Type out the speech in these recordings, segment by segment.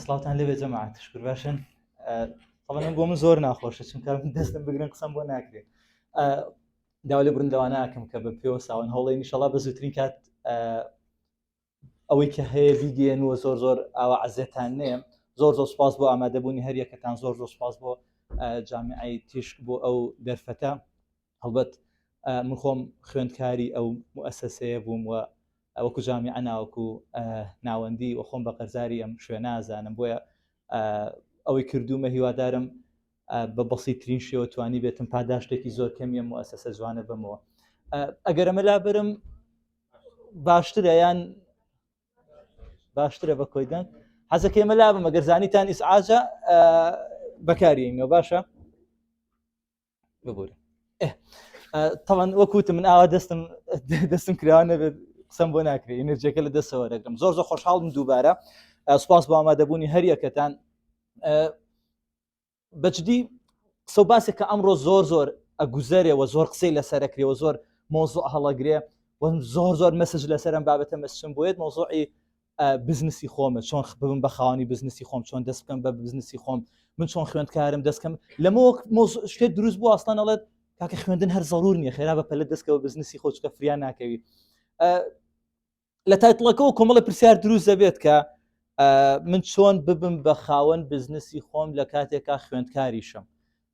سڵاوان لەبێ جەماعات شکر باشن تەڵەن بۆ من زۆر ناخۆشە چونکە دەستم بگرن قسم بۆ ناکرێت داوا لە بردەوانناکەم کە بە پێوە ساوان هەوڵی نیشەڵا بە زووترین کات ئەوەی کە هەیە بیدێن وە زۆر زۆر ئاوا عزێتان نێم زۆر زۆر سپاس بۆ ئامادەبوونی هەریەکەتان زۆر زۆر سپاس بۆ جامعی تیشک بۆ ئەو دەرفەتە هەڵبەت من خۆم خوێندکاری ئەو موسەسەیە بووم و ئەوەکو جامی ئەناوەکو ناوەندی و خۆم بە قەرزاری ئەم شوێ نازانم بۆیە ئەوەی کردومە هیوادارم بە بەسیترین شێوە توانی بێتم پاداشتێکی زۆر کەمیە موسەسە جوانە بمەوە ئەگەر ئەمە لا برم باشترە یان باشترە بە کۆی دەنگ حەزەکەی مەلا بمە گەرزانیتان ئیسعاجە بەکاریەوە باشە ببورە تەوان وەکووت من ئاوا دەستم دەستم کراوە نەبێت قسەم بۆ ناکرێت ئەنرجەکە لە دەسەوە دەگرم زۆر زۆر خۆشحاڵم دووبارە سوپاس بۆ ئامادەبوونی هەریەکەتان بەجدی قسە و باسێک کە ئەمڕۆ زۆر زۆر ئەگوزەرێەوە زۆر قسەی لەسەرەکرێەوە زۆر مۆزۆ هەڵەگرێ وەم زۆر زۆر مەسج لەسەرم بابەتە مەسم بۆیت مۆزۆعی بزنسی خۆمە چۆن خبم بە خاوەنی بزنسی خۆم چۆن دەست بکەم بە بزنسی خۆم من چۆن خوێندکارم دەستکەم لەمە شتێک دروست بوو ئاستان ئەڵێت کاکە خوێندن هەر زەرور نیە خێرا بە پەلە دەستکەوە بزنسی خۆچکە فریان ناکەوی لە تایتڵەکەەوە کۆمەڵە پرسیار دروست دەبێت کە من چۆن ببم بە خاوەن بزنسی خۆم لە کاتێکا خوێندکاریشم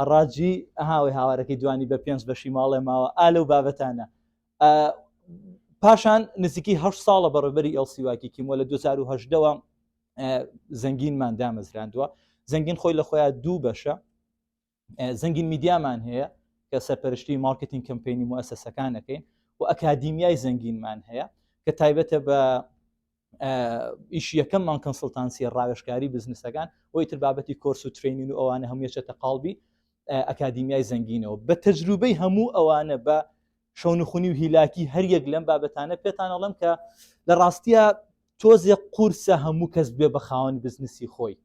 هەڕاجی ئەها ئەوەی هاوارەکەی دوانی بە پێنج بەشی ماڵێ ماوە ئا لەو بابەتانە پاشان نزیکی هە ساڵە بەڕێبەری ئەلسیواکی کیمۆ لە 2010ەوە زەنگینمان دامەزراندووە زەنگین خۆی لە خۆیان دوو بەشە زەنگین میدیامان هەیە کە سەرپەرشتی مارکتین کەمپینی موسسەکانەکەین و ئەکادیمیای زەنگینمان هەیە کە تایبەتە بە ئیش یەکەممان کەنسلتانسیە ڕاوێشکاری بزنسەکان بۆی تر بابەتی کۆرس و ترینین و ئەوانە هەموو چێتە قالبی ئەکادیمیای زەنگینەوە بە تەجروبەی هەموو ئەوانە بە شەونخونی و هیلاکی هەریەک لەم بابەتانە پێتانەڵم کە لە ڕاستیە تۆزێ قورسە هەموو کەس بێ بە خاوەن بزنسی خۆی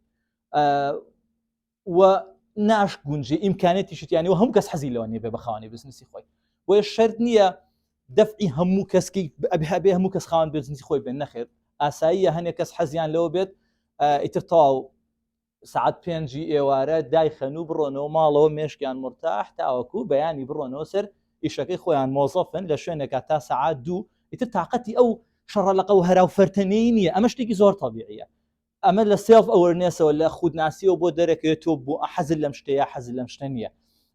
و ناش گونجێ ئیمکانێتی شتیانی و هەم کەس حەزی لەوە نیە بێ بەخاوانی بزنسی خۆی بۆیە شرت نییە دەفعی هەموو کەسکی ئەبێ هەموو کەس خاوان بزنسی خۆی بێن نەخێت ئاساییە هەنێک کەس حەزیان لەوە بێت ئیتر تەواو سعات پێنجی ئێوارە دایخەن و بڕۆنەوە ماڵەوە مێشکیان مرتاح تاوەکو بەیانی بڕۆنەوە سەر ئیشەکەی خۆیان مۆزەفن لە شوێنێکە تا سعات دوو ئیتر تااقەتی ئەو شەڕە لەقە و هەرا و فەرتەنەی نییە ئەمە شتێکی زۆر تەبیعە ئەمە لە سێڵف ئەوەرنێسەوە لە خودناسیەوە بۆت دەرەکەوێت تۆ بۆ حەزت لەم شتە یا حەزت لەم شتە نییە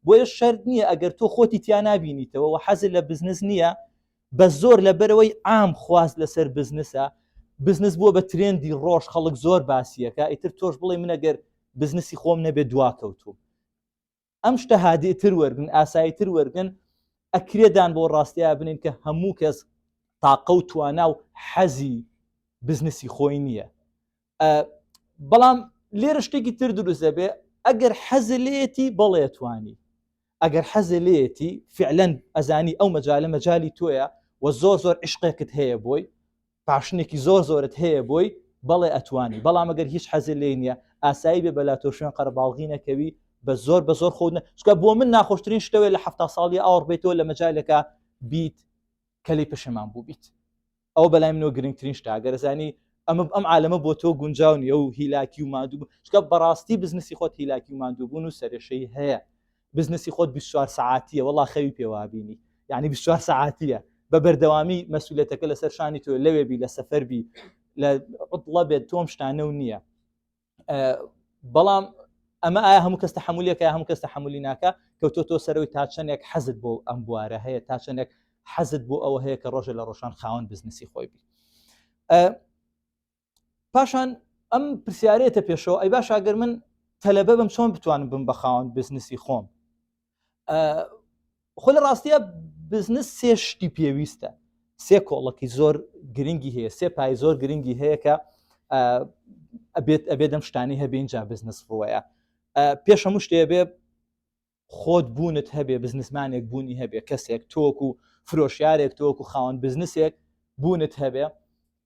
بۆیە شەرت نییە ئەگەر تۆ خۆتی تیا نابینیتەوە و حەزت لە بزنس نییە بە زۆر لە بەرەوەی عام خواست لەسەر بزنسە بزنس بووە بە ترێندی ڕۆژ خەڵک زۆر باسیەکە ئیتر تۆش بڵێ منەگەر بزنسی خۆم نەبێت دواکەوتوم ئەم شتە هادیتر وەرگن ئاساییتر وەرگن ئەکرێدان بۆ ڕاستەیە بنین کە هەموو کەس تاقە و توانا و حەزی بزنسی خۆی نییە بەڵام لێرە شتێکی تر دروست دەبێ ئەگەر حەز لێتی بەڵێتوانی ئەگەر حەز لێتی فعلەن ئەزانی ئەو مەجالە مەجای تۆیە و زۆر زۆر عشقێکت هەیە بۆی پاشنێکی زۆر زۆرت هەیە بۆی بەڵێ ئەتوانی بەڵام ئەگەر هیچ حەزی لێ نییە ئاسایی بێ بەلا تۆ شوێن قەرباڵغی نەکەوی بە زۆر بە زۆر خۆنە چکە بۆ من ناخۆشترین شتەوەی لە هەفتا ساڵی ئاوڕ بێتەوە لە مەجالەکە بیت کەلی پشەمان بوو بیت ئەو بەلای منەوە گرنگترین شتا گەرزانی ئەمە ئەم عالەمە بۆ تۆ گونجاو نیە و هیلاکی و مادوو چکە بەڕاستی بزنسی خۆت هیلاکی و مادووبوون و سەرێشەی هەیە بزنسی خۆت بیست و چوار سەعاتیە وەڵا خەوی پێ وابینی یعنی بیست و چوار سەعاتیە بە بەردەوامی مەسولەتەکە لەسەر شانی تۆ لەوێ بی لە سەفەر بی لە عطڵە بێت تۆم شتانە و نییە بەڵام ئەمە ئایا هەموو کەس تحملەکە هەموو کەس تحملی ناکە کەوتۆ تۆ سەرەوەی تا چەندێک حەزت بۆ ئەم بوارە هەیە تا چەندێک حەزت بۆ ئەوە هەیە کە ڕۆژە لە ڕۆژان خاوەن بزنسی خۆی بی پاشان ئەم پرسیارێتە پێشەوە ئەی باش ئەگەر من تەلەبە بم چۆن بتوانم بم بەخاوەند بزنسی خۆم خۆ لە ڕاستە بزنس سێ شتی پێویستە سێ کۆڵەکی زۆر گرنگی هەیە سێ پای زۆر گرنگی هەیە کە ئەبێت ئەبێ دەم شتانی هەبێنجا بزنس ڕوەیە پێشەمو شتێ بێ خۆت بوونت هەبێ بزنسمانێک بوونی هەبێ کەسێک تۆک و فرۆشیارێک تۆک و خاوەن بزنسێک بوونت هەبێ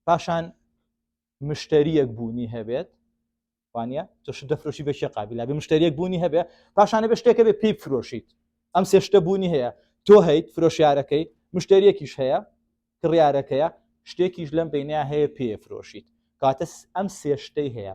پاشان مشتریەک بوونی هەبێت وانە تۆش دەفرۆشی بەشی قابللا بە مشتریەک بوونی هەبێ پاشانە بە شتێکە بێ پێی فرۆشیت ئەم سێشتە بوونی هەیە تۆ هەیت فرۆشیارەکەی مشتریەکیش هەیە کڕیارەکەیە شتێکیش لەم بینیا هەیە پێ فرۆشیت کاتەس ئەم سێشتەی هەیە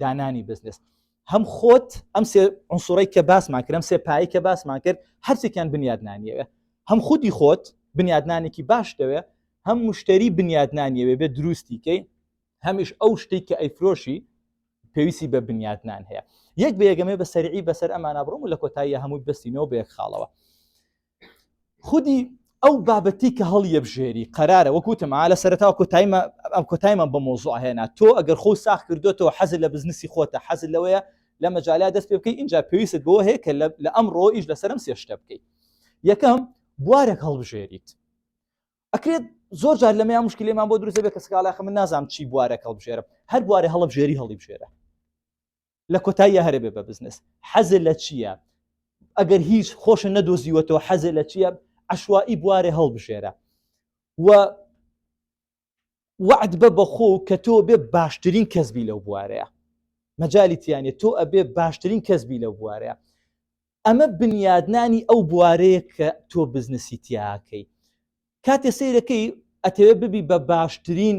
دانانی بزنس هەم خۆت ئەم سێ عنصرەی کە باسمان کرم سێ پایی کە باسمان کرد هەرچێکیان بنیادنانیەوە هەم خودی خۆت بنیادنانێکی باش دەوێ هەم مشتری بنیادنانیەوێ بێ دروستیکەی هەمیش ئەو شتێک کە ئەیفرۆشی پێویستی بە بنیادنان هەیە یەک بێگەمێ بە سەرعی بەسەر ئەمانە بڕم و لە کۆتاییە هەمووی بستینەوە بە یەک خاڵەوە خودی ئەو بابەتی کە هەڵ یەبژێری قەرارە وەکوتم لە سەرتاوە کۆتایمە ئەم کۆتایمە بە مۆزوع هێنا تۆ ئەگەر خۆ ساخ کردوێتەوە حەز لە بزنسی خۆتە حەز لەوەیە لە مەجاالا دەست پێ بکەی اینجا پێویست بۆ هەیە کە لە ئەم ڕۆ ئیش لەسەرم سێشتە بکەیت یەکەم بوارێک هەڵبژێریت ئەکرێت زۆر جار لەمە مشکلێمان بۆ دروزە بێت کە سکاڵاخە من نازانام چی بوارە هەڵبژێرم هەر بوارە هەڵبژێری هەڵی بژێرە لە کۆتاییە هەرە بێ بە بزنس حەزێ لە چییە ئەگەر هیچ خۆشە نەدۆزیوەتەوە حەزێ لە چییە عشوایی بوارێ هەڵبژێرە و وعد بە بەخۆ کە تۆ بێ باشترین کەسبی لەو بوارەیە مەجای تیانە تۆ ئەبێ باشترین کەسبی لەو بوارەیە ئەمە بنیادنانی ئەو بوارەیە کە تۆ بزنسی تیاکەی کاتێ سیرەکەی ئەتەوێ ببی بە باشترین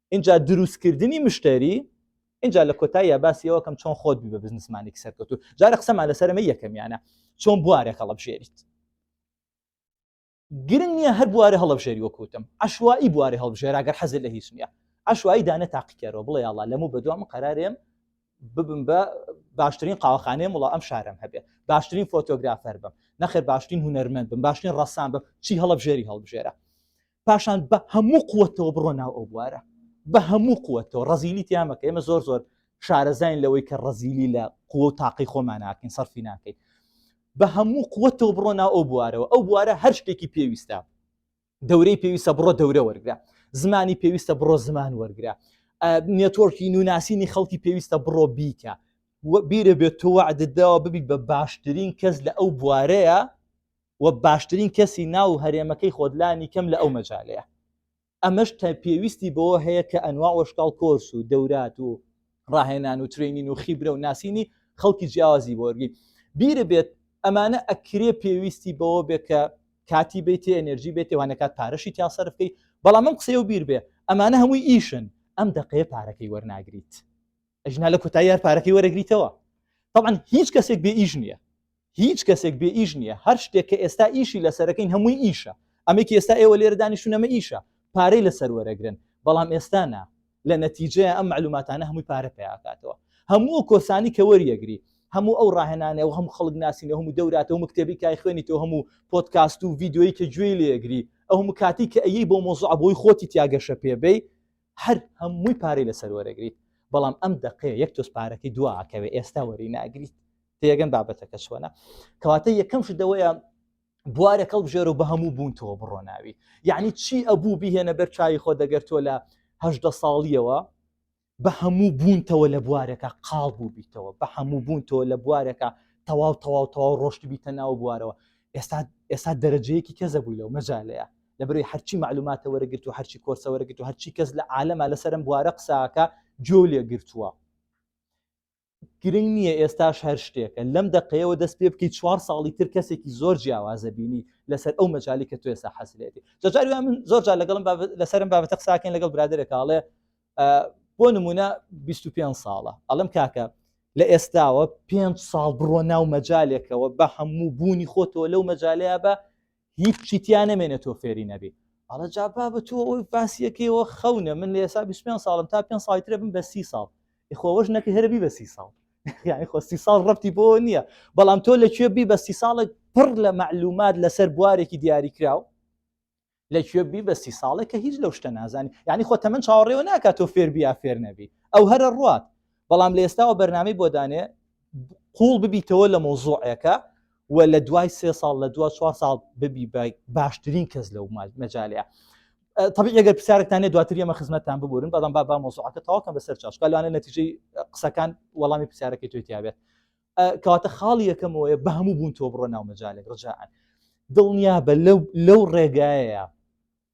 اینجا دروستکردنی مشتری اینجا لە کۆتاییە باسی ئەوکەم چۆن خۆت بی بە بزنسمانێک سەرکەوتو جارە قسەمان لەسەرمە یەکەمیانە چۆن بوارێک هەڵبژێریت گرنگ نییە هەر بوارە هەڵبژێری وەکوتم عشوایی بوارە هەڵبژێراگەر حەزر لە هیچ نییە عشوایی دانە تاقیکەرەوە بڵێ یاڵا لەمە بەدوام قەرارێم ببم بە باشترین قاوەخانەیە وڵا ئەم شارم هەبێ باشترین فۆتۆگرافەر بم نەخێر باشترین هوەرمەند بم باشترین ڕسان بم چی هەڵبژێری هەڵبژێرە پاشان بە هەموو قوتەوە بڕۆ ناو ئەو بوارە بە هەموو قوتەوە ڕزیلی تیامەکە ئێمە زۆر زۆر شارەزین لەوەی کە ڕزیلی لە قوە و تاقی خۆمان ناکەین سەرفی ناکەین بە هەموو قوتەوە بڕۆ ناو ئەو بوارەوە ئەو بوارە هەر شتێکی پێویستە دەورەی پێویستە بڕۆ دەورە وەرگرە زمانی پێویستە بڕۆ زمان وەرگرە نێتۆرکی نوناسینی خەڵکی پێویستە بڕۆ بیکە بیرە بێت تۆ وعدداوە ببیت بە باشترین کەس لە ئەو بوارەیە و باشترین کەسی ناو هەرێمەکەی خۆت لانی کەم لە ئەو مەجالەیە ئەمەش تا پێویستی بەوە هەیە کە ئەنوا وەشکاڵ کۆرس و دەورات و ڕاهێنان و ترینین و خیبرە و ناسینی خەڵکی جیاوازی بۆرگی بیرە بێت ئەمانە ئەکرێ پێویستی بەوە بێت کە کاتی بێتێ ئەنرژی بێتێ وانەکات پارەشی تیا سەرفکەی بەڵام من قسەی و بیر بێ ئەمانە هەمووی ئیشن ئەم دقەیە پارەکەی وەرناگریت ئەژنا لە کوتاییار پارەکەی وەرەگریتەوە طبعا هیچ کەسێک بێ ئیش نییە هیچ کەسێک بێ ئیش نیە هەر شتێک کە ئێستا ئیشی لەسەرەکەین هەمووی ئیشە ئەمەی کە ئێستا ئێوە لێرە دانیشتون ئەمە ئیشە پارەی لەسەر وەرەگرن بەڵام ئێستا نا لە نەتیجەیە ئەم معلوماتانە هەمووی پارە پیاکاتەوە هەموو ئەو کۆرسانی کە وەریەگری هەموو ئەو ڕاهێنانەوە هەموو خەڵک ناسینە هەموو دەوراتە هەموو کتێبی کای خوێنی تۆ هەموو پۆتکاست و ڤیدیۆیی کە گوێی لێگری ئەو هەموو کاتی کە ئەیی بۆ مۆزوعە بۆی خۆتی تیا گەشە پێبەی هەر هەمووی پارەی لەسەر وەرەگریت بەڵام ئەم دەقەیە یەک تۆز پارەکەی دواکەوێ ئێستا وەری ناگریت تێگەن بابەتەکە چۆنە کەواتە یەکەم شدەوەیە بوارە کەڵ بژێرە و بە هەموو بوون تۆ بڕۆناوی یعنی چی ئەبوو بهێنە بەر چاوی خۆ دەگەر تۆ لە هەدە ساڵیەوە بە هەموو بوونتەوە لە بوارەکە قاڵ بوو بیتەوە بە هەموو بوون تۆ لە بوارەکە تەواو تەواو تەواو ڕۆشت بیتە ناو بوارەوە ئێستا ئێستا دەرەجەیەکی کەزە بووی لەو مەجالەیە لە بەروی هەرچی معلوماتە وەرەگرت و هەرچی کۆرسە وەرەگرت و هەرچی کەس لە عالەما لەسەرم بوارە قساکە جۆ لێ گرتووە گرنگ نییە ئێستاش هەر شتێکە لەم دقەیەوە دەست پێ بکەیت چوار ساڵی تر کەسێکی زۆر جیاوازە بینی لەسەر ئەو مەجای کە توێ سا حەسلێتی جاجاری من زۆر جار لەگەڵم لەسرم بابەتە قساکەین لەگەڵ برادێکاڵێ بۆ نمونە 25 ساڵە ئەڵم کاکە لە ئێستاوە پێ ساڵ بڕۆ ناو مەجالێکەوە بە هەموو بوونی خۆتەوە لەو مەجالەیە بە هیچی تیا نەمێنێت تۆ فێری نەبی ئەڵە جا بابە تۆ ئەوی باسیەکەیەوە خەونە من لە ئێسا 25 ساڵم تا پێ ساڵی ترە بم بە سی ساڵ خۆوەش نەکە هەربی بە سی ساڵ یعنی خۆ سی ساڵ ڕەتی بۆ نییە بەڵام تۆ لەکوێ بی بە سی ساڵێک پڕ لە معلومات لەسەر بوارێکی دیاری کراو لەکوێ بی بە سی ساڵێک کە هیچ لەو شتە نازانی یعنی خۆ تەمن چاوەڕێەوە ناکات تۆ فێربیا فێر نەبی ئەو هەرە ڕات بەڵام لە ئێستاوە بەرنامەی بۆ دانێ قوڵ ببیتەوە لە مۆزوعەکە و لە دوای سێ ساڵ لە دو چوار ساڵ ببی باشترین کەس لەو مەجالەیە طبی ئەگەر پرسیارتانێ دواتر ئەمە خزمەتتان ببورن بەڵام با با مۆزوعەکە تاواکەم بەسەر چاشکالوانە نەتیجەی قسەکان وەڵامی پرسیارەکەی توی تیاابێت کەواتە خاڵی یەکەمەوەیە بە هەموو بوون تۆ بڕۆ ناو مەجالێک ڕجاان دڵنیا بە لەو ڕێگایە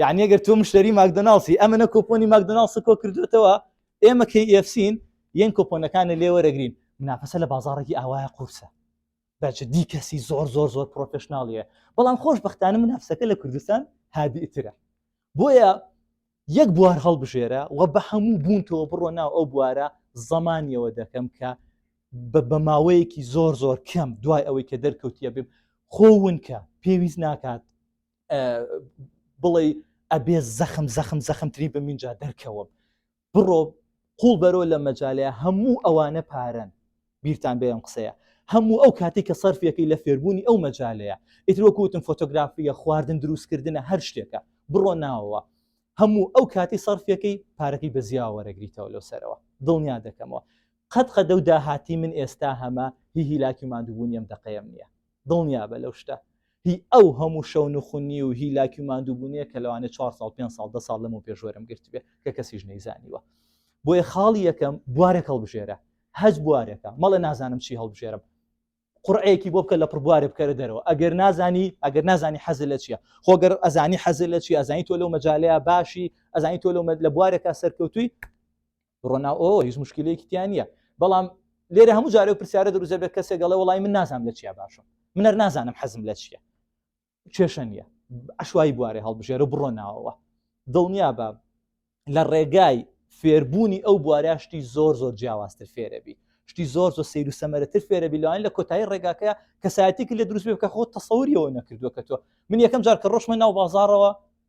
یعنی ئەگەر تۆ مشتری ماکدۆناڵسی ئەمە نە کۆپۆنی ماکدۆناڵسی کۆ کردوێتەوە ئێمە کەی ئفسین یەن کۆپۆنەکانە لێوەرەگرین منافەسە لە بازارێکی ئاوایە قورسە بەچ دی کەسی زۆر زۆر زۆر پرۆفشنناڵیە بەڵام خۆش بەختانە منافسەکە لە کوردستان هادیترە بۆیە یەک بوار هەڵبژێرە و بە هەموو بوونتەوە بڕۆ ناو ئەو بوارە زەمانیەوە دەکەم کە بە ماوەیەکی زۆر زۆر کەم دوای ئەوەی کە دەرکەوتیە بێ خۆونکە پێویست ناکات بڵێ ئەبێ زەخم زەخم زەخمترین بە منجا دەرکەوەم بڕۆ قوڵ بەرۆ لە مەجاالەیە هەموو ئەوانە پارەن بیرتان بێم قسەیە هەموو ئەو کاتی کە سەرفەکەی لە فێربوونی ئەو مەجاالەیە ئیترۆکوتن فۆتۆگرافیە خواردن دروستکردنە هەر شتێکە بڕۆ ناوەوە هەموو ئەو کاتی سەرفەکەی پارەکەی بە زیاوەرەگریتەوە لەو سەرەوە دڵنیا دەکەمەوە قەت قەدە و داهاتی من ئێستا هەمە هی هیلاکی مادووبوونیم دەقەیەم نییە دڵنیابە لەو شتە هی ئەو هەموو شەو نوخونی و هی لاکی و ماندووبوونیە کە لەوانێ چوار ساڵ پێ ساڵ دە ساڵ لەمە پێش وەرم گرتبێ کە کەسیش نەیزانیوە بۆیە خاڵی یەکەم بوارێک هەڵبژێرە هەج بوارێکە مەڵێ نازانم چی هەڵبژێرم قڕەیەکی بۆ بکە لە پربوارێ بکەرە دەرەوە ئەگەر نازانی ئەگەر نازانی حەزل لە چیە خۆگەر ئەزانی حەزل لە چی ئەزانی تۆ لەو مەجاالەیە باشی ئەزانی تۆ لەو لە بوارێکە سەرکەوتوی بڕۆ ناو ئەوە هیچ مشکلەیەکی تیان نییە بەڵام لێرە هەموو جارە و پرسیارە دروزە بێت کەسێک گەڵێ وڵی من نازانم لە چیا باشم منەر نازانم حەزم لە چیە کێشە نییە ئەشوایی بوارێ هەڵبژێرە بڕۆ ناوەوە دڵنیا بە لە ڕێگای فێربوونی ئەو بواراشتی زۆر زۆر جیاوازتر فێرەبی شتی زۆر زۆر سیر و سەمەرەتر فێرە بیلوان لە کۆتایی ڕێگاکە کەسایەتێکی لە دروست بکە خۆ تەسەوریەوە نەکردووە کە تۆ من یەکەم جار کە ڕۆشمە ناو بازارەوە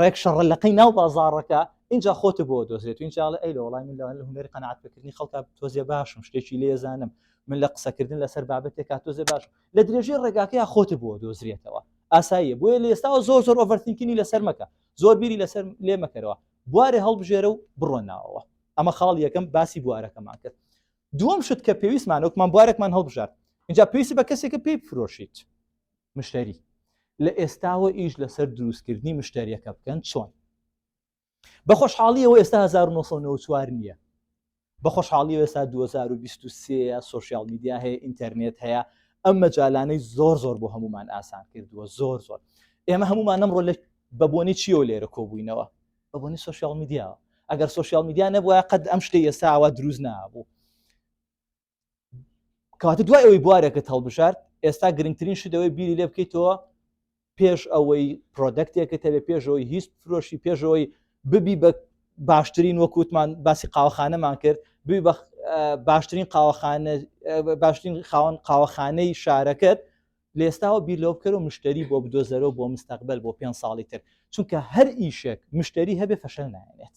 ڕێک شەڕە لەقەی ناو بازاڕەکە اینجا خۆت بۆ دۆزێت اینجاڵە ئەی لە وڵای من لەوان لە هوەری قەنعات بکردنی خەڵکە تۆزێ باشم شتێکی لێزانم من لە قسەکردن لەسەر بابەتێکا تۆزێ باش لە درێژەی ڕێگاکەیە خۆت بۆ دۆزرێتەوە ئاساییە بۆیە لە ئێستاەوە زۆر زۆر ئۆڤەرتینکردنی لەسەر مەکە زۆر بیری لەسەر لێ مەکەرەوە بوارێ هەڵبژێرە و بڕۆن ناوەوە ئەمە خاڵ یەکەم باسی بوارەکەمان کرد دووەم شت کە پێویستمان وەکمان بوارێکمان هەڵبژارد اینجا پێویستی بە کەسێکە پێی بفرۆشیت مشتری لە ئێستاوە ئیش لەسەر دروستکردنی مشتریەکە بکەن چۆن بە خۆشحاڵیەوە ئێستا 1994 نییە بە خۆشحاڵی ئێستا 2023 سوسیال میدیا هەیە ئینتەرنێت هەیە ئەم مەجالانەی زۆر زۆر بۆ هەمومان ئاسان کردووە زۆر زۆر ئێمە هەمومان ئەمڕۆ لە بەبوونی چیەوە لێرە کۆبووینەوە بەبوونی سوسیال میدیاوە ئەگەر سوسیال میدیا نەبووە قەت ئەم شتی ئێستاوە دروست نابوو کاتە دوای ئەوەی بوارێکت هەڵبژارد ئێستا گرنگترین شتەوەی بیری لێ بکەیتەوە پێش ئەوەی پرۆدەکتێکە تەبێ پێشەوەی هیچ فرۆشی پێشەوەی ببی بە باشترین وەکووتمان باسی قاوەخانەمان کرد بی بە باشترین قاوەخانە باشترین خاوەن قاوەخانەی شارەکەت لێستاوە بیر لەو بکەرە و مشتری بۆ بدۆزەرە بۆ مستەقبل بۆ پێ ساڵی تر چونکە هەر ئیشێک مشتری هەبێ فەشەل نایێت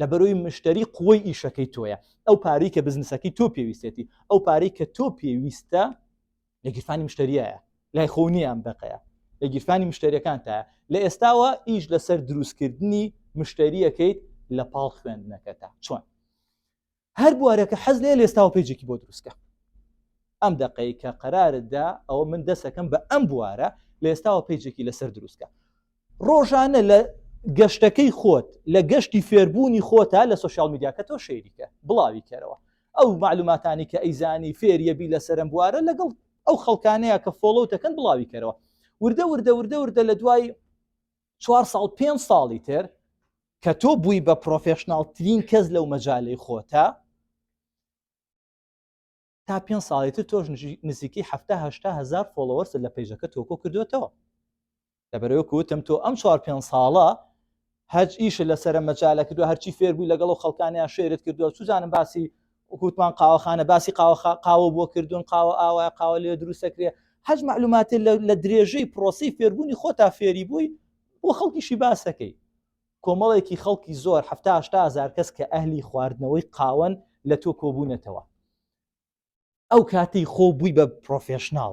لە بەرۆی مشتری قوی ئیشەکەی تۆیە ئەو پارەی کە بزنسەکەی تۆ پێویستێتی ئەو پارەی کە تۆ پێویستە لە گیرفانی مشتریایە لای خۆ نییان بەقەیە لە گیرفانی مشتریەکان تا لە ئێستاوە ئیش لەسەر دروستکردنی مشتریەکەیت لە پاڵ خوێندنەکەتا چۆن هەر بوارە کە حەز لێ لێستاوە پێجێکی بۆ دروستکە ئەم دقەی کە قەراردا ئەوە من دەسەکەم بە ئەم بوارە لە ئێستاوە پێجێکی لەسەر دروستکە ڕۆژانە لە گەشتەکەی خۆت لە گەشتی فێربوونی خۆتا لە سوسیال میدیاکە تۆ شەیریکە بڵاوی کەرەوە ئەو معلوماتانی کە ئەیزانی فێریەبی لە سەرم بوارە لەگەڵ ئەو خەڵکانەیە کە فۆڵەوتەکەن بڵاوی کەرەوە وردە وردە وردە وردە لە دوای چوار ساڵ پێنج ساڵی تر کە تۆ بووی بە پرۆفشنناڵترین کەس لەو مەجای خۆتە تا پێ ساڵی تر تۆش نزیکی هەهشتا هزار فۆڵەوەرس لە پیجەکە تۆکۆ کردوێتەوە لەبەرەوە کوتم تۆ ئەم چوار پێ ساڵە هەچ ئیش لەسرە مەجالە کردو هەرچی فێربووی لەگەڵ خەڵکانیان شێرت کردووە سوزانم باسی وەکو وتمان قاوەخانە باسی قاوە قاوە بۆ کردوون قاوە ئاوایە قاوە لێ دروستەکرێ هەج معلوماتی لە درێژەی پرۆسی فێربوونی خۆتا فێری بووی بۆ خەڵکیشی باسەکەی کۆمەڵێکی خەڵکی زۆر هزار کەس کە ئەهلی خواردنەوەی قاون لە تۆ کۆبوونەتەوە ئەو کاتەی خۆ بووی بە پرۆفێشنناڵ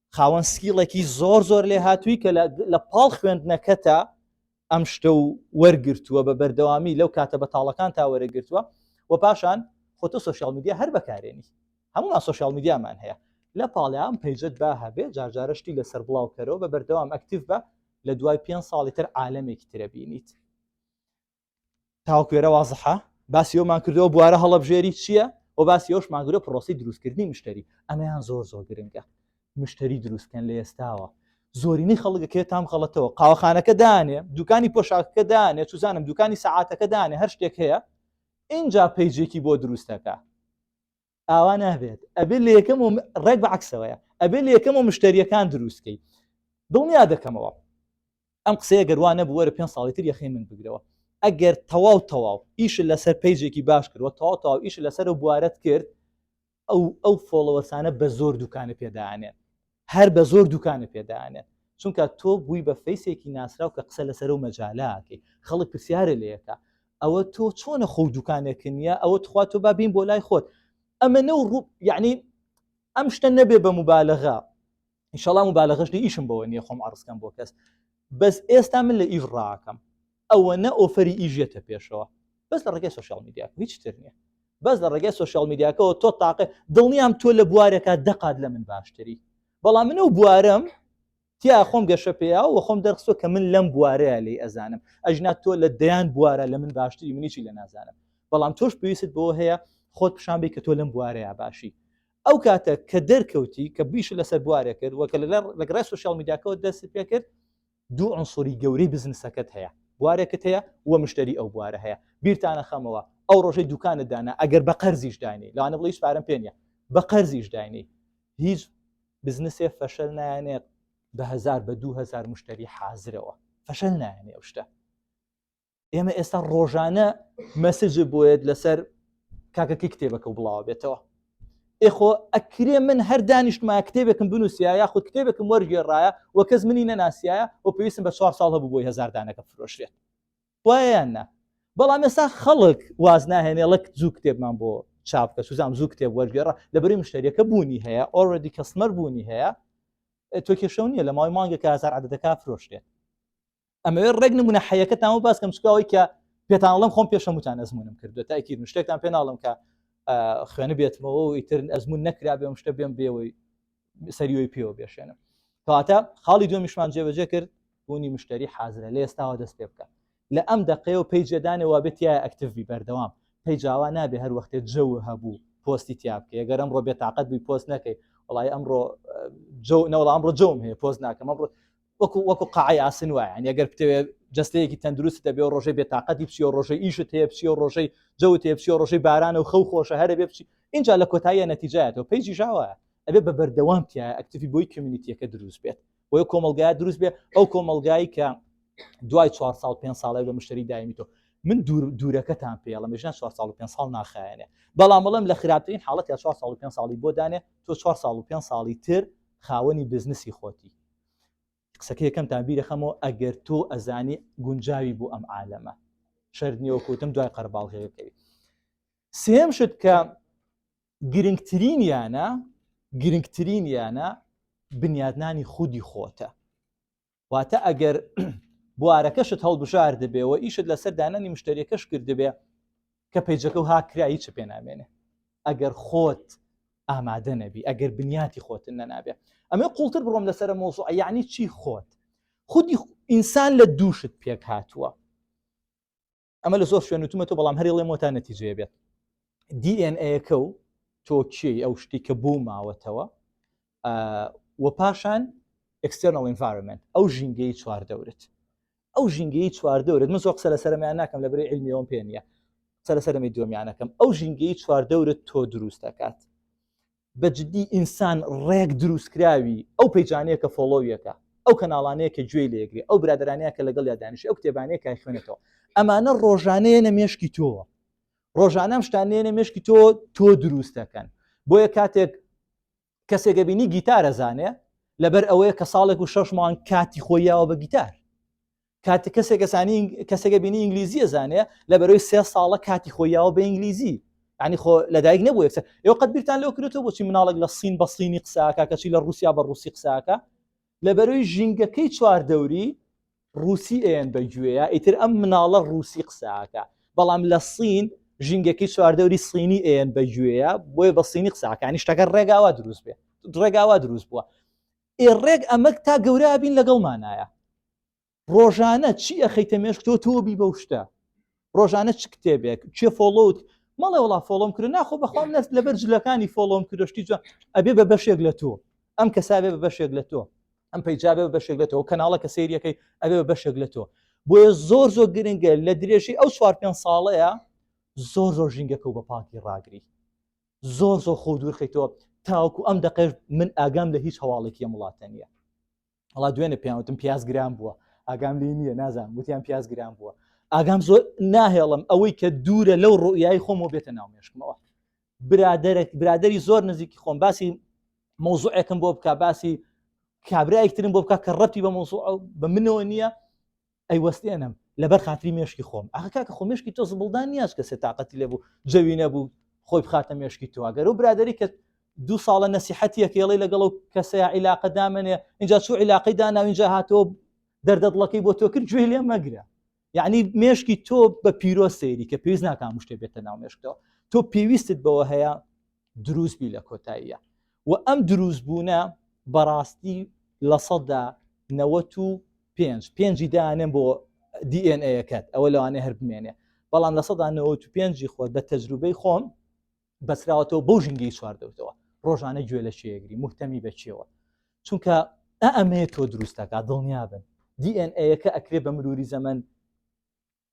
خاوەن سکیڵێکی زۆر زۆر لێ هاتووی کە لە پاڵ خوێندنەکەتە ئەم شتە و وەرگرتووە بە بەردەوامی لەو کاتە بەتاڵەکان تا وەرەگرتووە و پاشان خۆتە سوسیال میدیا هەر بەکارێنی هەمووان سوسیال میدیامان هەیە لە پاڵیان پەیجت با هەبێ جارجارشتی لەسەر بڵاوکەرەوە بە بەردەوام ئەکتیف بە لە دوای پێ ساڵی تر عاالمێکی ترە بینیت تاوکوێرە وازحە باسی ئەومان کردەوە بوارە هەڵبژێری چییە و باسی ئەوش ماگرە پرۆسی دروستکردنی مشتری ئەمەیان زۆر زۆر گرنگە مشتری دروستکەن لە ئێستاوە زۆرینەی خەڵکەکە تام خەڵەتەوە قاوەخانەکە دانێ دوکانی پۆشاکەکە دانێ چزانم دوکانی سەعاتەکە دانێ هەر شتێک هەیە اینجا پیجێکی بۆ دروستەکە ئاوا نابێت ئەبێ لە یەکەم و ڕێک بە عکسەوەیە ئەبێ لە یەکەم و مشتریەکان دروستکەی دڵنیا دەکەمەوە ئەم قسەیە گەروانە بووەرە پێ ساڵی تر یەخی من بگرەوە ئەگەر تەواو تەواو ئیش لەسەر پیجێکی باش کردوە تەواو تەواو ئیش لەسەر و بوارەت کرد ئەو ئەو فۆڵەوەسانە بە زۆر دوکانە پێدانێن هەر بە زۆر دوکانت پێ دانێن چونکە تۆ بووی بە فەیسێکی ناسراو کە قسە لەسەر و مەجالاکەی خەڵک پرسیارە لەکە ئەوە تۆ چۆنە خۆ دوکانێکن نیە ئەوە تخوا تۆ با بین بۆ لای خۆت ئەمە نە ڕوو یعنی ئەم شتە نەبێ بە مبالغە انشاءڵام و بالەغشتی ئیشم بەوە نیە خۆم عڕستکەم بۆ کەس بەس ئێستا من لە ئیش ڕاکەم ئەوەنە ئۆفەری ئیش یەتە پێشەوە بەس لە ڕێگەی سۆشیال میدیا هیچ تر نییە بەس لە ڕێگەی سۆشیال میدیاکەەوە تۆ تاقێ دڵنیام تۆ لە بوارەکە دەقات لە من باشتری بەڵام من و بوارم تیا خۆم گەشە پێیا و خۆم دەرخسۆ کە من لەم بوارەیە لی ئەزانم ئەژنا تۆ لە دەیان بوارە لە من باشتری منیی لە نازانم بەڵام تۆش پێویست بۆ هەیە خۆت پیشان بی کە تۆ لەم بوارەیە باشی ئەو کاتە کە دەرکەوتی کە بیشت لەسەر بوارێ کرد وە کە لە گەڕای سوسیال میدیاکەوە دەست پێ کرد دوو عنصری گەورەی بزنسەکەت هەیە بوارێکت هەیە وە مشتری ئەو بوارە هەیە بیرتانە خەمەوە ئەو ڕۆژەی دوکانت دانا ئەگەر بە قەرزیش داینی لەوانە بڵیش پارەم پێ نیە بە قەرزیش داینی هیچ بزنسێ فەشەل نایەنێت بە هزار بە دوهزار مشتری حازرەوە فەشەل نایەنێ ئەو شتە ئێمە ئێستا ڕۆژانە مەسج بۆیت لەسەر کاکەکەی کتێبەکە و بڵاوە بێتەوە ئێخۆ ئەکرێ من هەر دانیشتما کتێبێکم بنووسە یاخود کتێبێکم وەرگێڕایە و کەس منی نەناسیایە و پێویستم بە چوار ساڵ هەبوو بۆی هزار دانەکە فرۆشرێت وایان نا بەڵام ئێستا خەڵک واز ناهێنێ ڵک زوو کتێبمان بۆ چاپکە سوزان زوو کتێب وەرگێڕە لەبری مشتریەکە بوونی هەیە ئۆردی کەسمەر بوونی هەیە تۆ کێشەو نیە لە ماوەی مانگە کە هزار عدەکە فرۆشتێت ئەمەوێ ڕێک نمونە حەیەکە تامە باس کەم چکاوەی کە پێتانڵم خۆم پێشەموتان ئەزمونم کردو تاکی شتێکتان پێ ناڵم کە خوێنە بێتمەوە و ئیتر ئەزمون نەکرا بێم شتە بێم بێەوەی سەریەوەی پێوە بێشێنم کەواتە خاڵی دومیشمان جێبەجێ کرد بوونی مشتری حازرە لە ئێستاوە دەست پێ بکە لە ئەم دقەیە و پێی جێدانەوە بێت یا ئەکتڤبی بەردەوام پێی جاوا نابێ هەر وەختێ جەو هەبوو پۆستی تیاابکە گەر ئەمڕۆ بێتاقەت بووی پۆست نەکەی وڵی ئەمڕۆ جەو نەوەڵام ڕۆ جەوم هەیە پۆست ناکەم ئەمڕۆ وەکو وەکو قاعی ئاسن وایە یعنی ئەگەر بتەوێت جستەیەکی تەندروست دەبێ و ڕۆژەی بێتاقەتی بچی و ڕۆژەی ئیشت هەیە بچی و ڕۆژەی جەوت هەیە بچی و ڕۆژەی بارانە و خەو خۆشە هەرە بێ بچی اینجا لە کۆتاییە نەتیجایەتەوە پێیجی ژاوە ئەبێ بە بەردەوام تیا ئەکتیفی بۆی کمیونیتیەکە دروست بێت بۆیە کۆمەلگای دروست بێ ئەو کۆمەلگایی کە دوای 4 سال پێ ساڵی بە مشتری دایمی تۆ من دوورەکەتان پێڵە مژان 4 سال و پێ ساڵ ناخایەنێ بەڵام بەڵم لە خراپترین حاڵەت یا 4 سال و پێ ساڵی بۆ دانێ تۆ 4 سال و پێ ساڵی تر خاوەنی بزنسی خۆتی قسەکە یەکەمتان بیرەخەمەوە ئەگەر تۆ ئەزانی گونجاوی بۆ ئەم عالەمە شەر نیەوە کوتم دوای قەرباڵغەکەوی سێم شت کە گرنگترین یانە گرنگترین یانە بنیادنانی خودی خۆتە واتە ئەگەر بوارەکەشت هەڵبژار دەبێەوە ئیشت لەسەر دانانی مشتریەکەش کردبێ کە پەیجەکە و هاکرا هیچ پێ نامێنێ ئەگەر خۆت ئامادە نەبی ئەگەر بنیاتی خۆتن نەنابێ ئەمە قوڵتر بڕۆم لەسەر مۆزوع یعنی چی خۆت خودی ئینسان لە دووشت پێک هاتووە ئەمە لە زۆر شوێنوتمە تۆ بەڵام هەرڵێ مۆتا نەتیجەیە بێت دیNAەکە و تۆکیی ئەو شتی کە بۆ ماوەتەوە و پاشان external environment ئەو ژینگەی چواردەورت ئەو ژینگەی چواردەورت من زۆر قسە لە سەرمیان ناکەم لە بری علمیەوەم پێ نیە قسە لە سەرمی دومیانەکەم ئەو ژینگەی چواردەورت تۆ دروست دەکات بە جددی ئینسان ڕێک دروستکراوی ئەو پەیجانەیە کە فۆڵۆویەکە ئەو کەناڵانەیە کە گوێی لێگری ئەو برادرانەیە کە لەگەڵ یادانیش ئەو کتێبانەیە کای خوێنێتەوە ئەمانە ڕۆژانەیە نە مێشکی تۆوە ڕۆژانەم شتانێنە مشکی تۆ تۆ دروستەکەن بۆیە کاتێک کەسێکە بینی گیتارە زانێ لەبەر ئەوەیە کە ساڵێک و شەش مانگ کاتی خۆیاوە بە گیتار کاتی کەسێک کەسانی کەسێکە بینی ئینگلیزیە زانێ لە بەرەوەی سێ ساڵە کاتی خۆیاوە بە ئینگلیزی ینی خۆ لەدایک نەبوو یەکسە ئێو قەت بیرتان لەو کرێتەوە بۆچی مناڵک لە سین بە سینی قساکە کەچی لە رووسیا بە رووسی قساکە لە بەرەوەی ژینگەکەی چوار دەوری ڕوسی ئەیەن بە گوێە ئیتر ئەم مناڵە ڕوسی قساکە بەڵام لە سین ژینگەکەی چواردەوری سینی ئەیەن بە گوێە بۆیە بە سینی قساکانی شتەکە ڕێگاوا دروست بێ ڕێگاوا دروست بووە ئێ ڕێک ئەمەک تا گەورە بین لەگەڵمانایە ڕۆژانە چی ئەخەیتە مێشک تۆ تۆبی بەو شتە ڕۆژانە چ کتێبێک چێ فۆڵۆوت مەڵێ وڵا فۆڵۆم کرد ناخۆ بەخوام نەست لەبەر جلەکانی فۆڵۆم کردشتی جوان ئەبێ بە بەشێک لە تۆ ئەم کەسابێ بە بەشێک لە تۆ ئەم پەیجابێ بەشێک لە تۆ کەناڵە کە سریەکەی ئەبێ بە بەشێک لە تۆ بۆیە زۆر زۆر گرنگە لە درێژەی ئەو چوار پێ ساڵەیە زۆر زۆر ژینگەکە و بە پاکی ڕاگری زۆر زۆر خۆ دوورخیتەوە تاوکو ئەم دەقێش من ئاگام لە هیچ هەواڵێکی ئەم وڵاتە نیە ئەڵا دوێنێ پیاوتم پیاز گران بووە ئاگام لی نییە نازان وتیان پیاز گران بووە ئاگام زۆر ناهێڵم ئەوەی کە دوورە لەو ڕوئای خۆم و بێتە ناو مێشکمەوە برادێک برادری زۆر نزیکی خۆم باسی مۆزوعێکم بۆ بک باسی کابراایکترم بۆ بک کە ڕەتی بە مۆزوع بە منەوە نییە ئەیوەستێنم لەبەر خاتری مێشکی خۆم ئاخە کاکە خۆ مێشکی تۆ زبڵدان نیاز کەسێ تااقەتی لێ بوو جەوی نەبوو خۆی بخاتە مێشکی تۆگەر و برادری کە دوو ساڵە نەسیحەتیەکەڵی لەگەڵ و کەسەیە عیلاقە دامنێ اینجا چوو عیلاقی دانا اینجا هاتۆ دەردەدڵەکەی بۆ تۆ کرد گوێ لێ مەگرە یعنی مێشکی تۆ بە پیرۆ سەیری کە پێویست ناکام شتێ بێتە ناو مێشکەوە تۆ پێویستت بەوە هەیە دروست بی لە کۆتاییە و ئەم دروست بوونە بەڕاستی لە سەدا نەوەت و پێنج پێنجی دانێن بۆ دیNAەکەت ئەوە لەوانێ هەر بمێنێ بەڵام لە سەدا نەوەت و پێنجی خۆت بە تەجروبەی خۆم بەسراوەتەوە بەو ژنگی چواردەوتەوە ڕۆژانە گوێ لە شێگری مهتەمی بەچێەوە چونکە ئەمەیە تۆ دروستەکە دڵنیابن دیNAەکە ئەکرێ بە مروری زەمن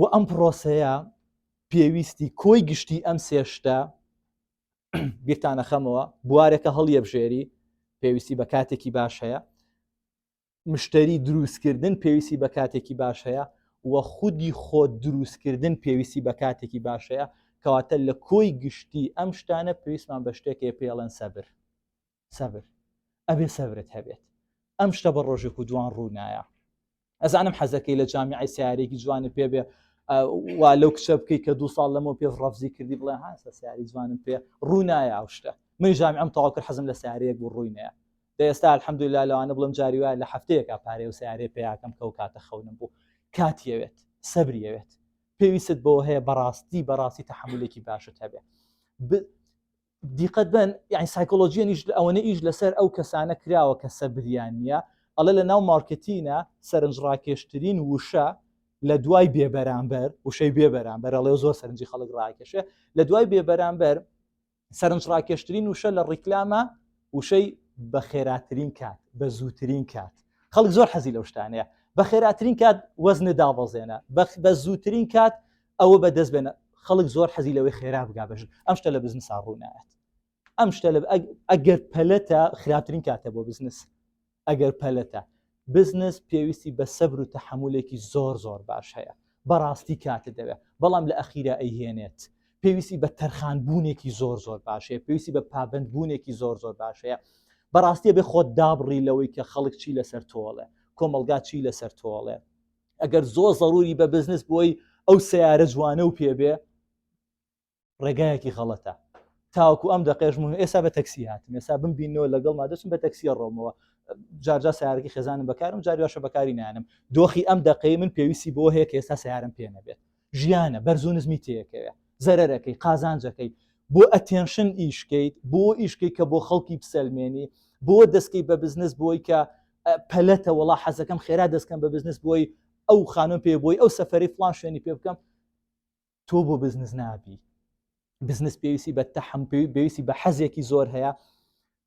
و ئەم پڕۆسەیە پێویستی کۆی گشتی ئەم سێ شتە بیرتانە خەمەوە بوارەکە هەڵیەبژێری پێویستی بە کاتێکی باش هەیە مشتری دروستکردن پێویستی بە کاتێکی باش هەیە و خودی خۆ دروستکردن پێویستی بە کاتێکی باش هەیە کەواتە لە کۆی گشتی ئەم شتانە پێویستمان بە شتێکێ پێڵێن سەبر سەبر ئەبێ سەبرت هەبێت ئەم شتە بە ڕۆژێک و دوان ڕوونایە ئەزانم حەزەکەی لە جامیعی سیارێکی جوانە پێ بێ وا لەو کچە بکەیت کە دو ساڵ لەمە پێ ڕەفزی کردی بڵێ هاسە سیاری جوانم پێ ڕوونایە ئەو شتە من جامی ئەم تاوا کرد حەزم لە سیارەیەک بوو ڕووینەیە دە ئێستا الحەمدولا لەوانە بڵم جاری وایە لە هەفتەیەکە پارێ و سیارێ پیاکەم کە و کاتە خەونم بوو کاتیەوێت سەبریەوێت پێویست بۆ هەیە بەڕاستی بەڕاستی تحملێکی باشت هەبێ دیقەت بەن یعنی سایکۆلۆژیە نیش لە ئەوەنە ئیش لەسەر ئەو کەسانە کراوە کە سەبریان نییە ئەڵێ لە ناو مارکتینە سەرنج ڕاکێشترین وشە لە دوای بێبەرامبەر وشەی بێبەرامبەر ئەڵێ زۆر سەرنجی خەڵک ڕاکێشێ لە دوای بێبەرامبەر سەرنج ڕاکێشترین وشە لە ڕیکلامە وشەی بە خێراترین کات بە زووترین کات خەڵک زۆر حەزی لەو شتانەیە بە خێراترین کات وەزنە دابەزێنە بە زووترین کات ئەوە بە دەست بێنە خەڵک زۆر حەزی لەوەی خێرا بگا بەژن ئەم شتە لە بزنس ڕوونایەت ئەم شتە لە ئەگەر پەلەتە خراپترین کاتە بۆ بزنس ئەگەر پەلەتە بزنس پێویستی بە سەبر و تەحملێکی زۆر زۆر باش هەیە بەڕاستی کاتە دەوێت بەڵام لە ئەخیرە ئەیهێنێت پێویستی بە تەرخانبوونێکی زۆر زۆر باشەیە پێویستی بە پابندبوونێکی زۆر زۆر باشەیە بەڕاستیە بێ خۆت دابڕی لەوەی کە خەڵک چی لەسەر تۆڵێ کۆمەلگا چی لەسەر تۆڵێ ئەگەر زۆ زەروری بە بزنس بۆی ئەو سیارە جوانە و پێبێ ڕێگایەکی غەڵەتە تاوەکو ئەم دەقێش من ئێسا بە تەکسی هاتم ئێسا بم بینەوە لەگەڵ مادەچم بە تەکسیە ڕۆمەوە جارجا سیارەکە خێزانم بەکارم جاریاشە بەکاری نانم دۆخی ئەم دەقەی من پێویستی بۆ هەیە کە ئێستا سیارم پێ نەبێت ژیانە بەرز و نزمی تێکەوێ زەرەرەکەی قازانجەکەی بۆ ئەتێنشن ئیشکەیت بۆ ئیشکەی کە بۆ خەڵکی بسەلمێنی بۆ دەستکەی بە بزنس بۆی کە پەلەتە وڵا حەزەکەم خێرا دەستکەم بە بزنس بۆی ئەو خانم پێ بۆی ئەو سەفری فلان شوێنی پێ بکەم تۆ بۆ بزنس نابی بزنس پێویستی بە تەحم پێویستی بە حەزێکی زۆر هەیە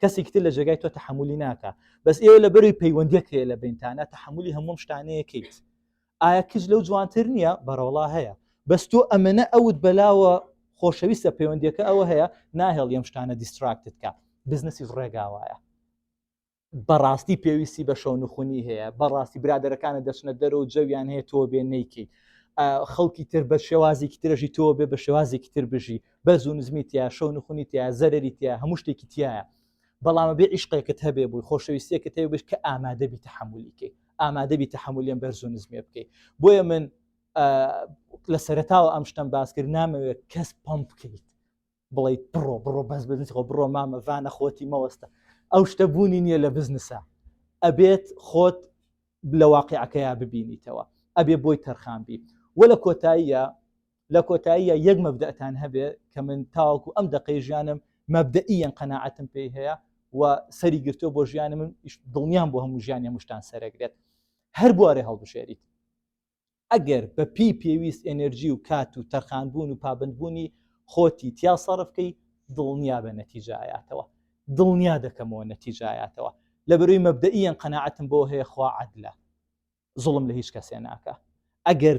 کەسێکی تر لە جێگای تۆ تحملی ناکە بەس ئێوە لە بەروی پەیوەندیەک هەیە لە بینتانە تحملی هەموم شتانەیەکەیت ئایا کچ لەو جوانتر نییە بەڕۆڵا هەیە بەس تۆ ئەمەە ئەوت بەلاوە خۆشەویستە پەیوەندیەکە ئەوە هەیە ناهێڵ یەم شتانە دیستراکتت کە بزنسی ڕێگاوایە بەڕاستی پێویستی بە شەو نخونی هەیە بەڕاستی برادەرەکانە دەچنە دەر و جەویان هەیە تۆ بێ نیکی خەڵکی تر بە شێوازێکی ترەژی تۆ بێ بە شێوازێکی تر بژی بەرز و نزمی تیا شەو نخونی تیا زەرری تیا هەموو شتێکی تایە بەڵامە بێ عیشقێکت هەبێ بووی خۆشەویستێکە تێ بش کە ئامادەبی تحملیکەی ئامادەبی تحملیان بەرز و نزمێ بکەیت بۆیە من لە سەرتاوە ئەم شتم باس کرد نامەوێت کەس پەم بکەیت بڵیت بڕۆ بڕۆ بەس بزنس خۆ بڕۆ مامەڤانە خۆتی مەوەستە ئەو شتە بوونی نییە لە بزنسە ئەبێت خۆت لە واقعەکەیا ببینیتەوە ئەبێ بۆی تەرخان بیت وە لە کۆتاییە لە کۆتاییە یەک مەبدەتان هەبێ کە من تاوەکو ئەم دەقەی ژیانم مەبدەئیان قەنەعاتم پێی هەیە و سەری گرتو بۆ ژیانە من دڵنیان بۆ هەموو ژیان هەمووشتان سەرەگرێت هەر بوارێ هەڵبژێریت ئەگەر بە پێی پێویست ئەنرژی و کات و تەرخانبوون و پابندبوونی خۆتی تیا سەرفکەی دڵنیا بە نەتیجایاتەوە دڵنیا دەکەمەوە نەتیجایاتەوە لە بەروی مەبدەئیان قەنەعاتم بۆ هەیە خوا عادلە زوڵم لە هیچ کەسێ ناکا ئەگەر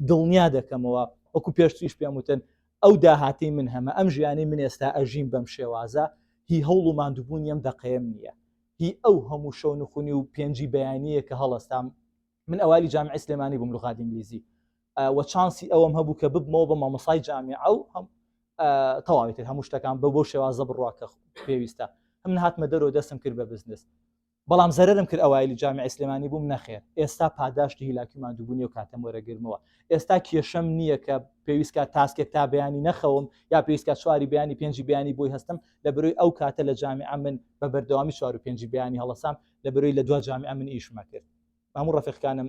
دڵنیا دەکەمەوە وەکو پێشتریش پێم وتن ئەو داهاتی من هەمە ئەم ژیانی من ئێستا ئەژین بەم شێوازە هی هەوڵ و ماندوبوون یەم دەقەیەم نییە هی ئەو هەموو شەو نخونی و پێنجی بەیانیە کە هەڵستام من ئەوالی جامی ئەسلێمانی بووم لغات ئینگلیزی وە چانسی ئەوم هەبوو کە ببمەوە بە مامەسای جامی ئەو هەم تەواویتر هەموو شتەکان بە بۆ شێوازە بڕواکە پێویستە هەم هاتمە دەرەوە دەستم کرد بە بزنس بەڵام زەرەرم کرد ئەوایلی جامیعەی سلێمانی بووم نەخێر ئێستا پاداشتی هیلاکی و ماندووبوونی و کاتەم وەرەگرمەوە ئێستا کێشەم نییە کە پێویست کات تاسکێک تا بەیانی نەخەوم یا پێویست کات چواری بەیانی پێنجی بەیانی بۆی هەستم لە بەرۆی ئەو کاتە لە جامیعە من بە بەردەوامی چوار و پێنجی بەیانی هەڵەسام لە بەرۆی لە دوا جامیعە من ئیشمە کرد ماموو ڕەفیقکانم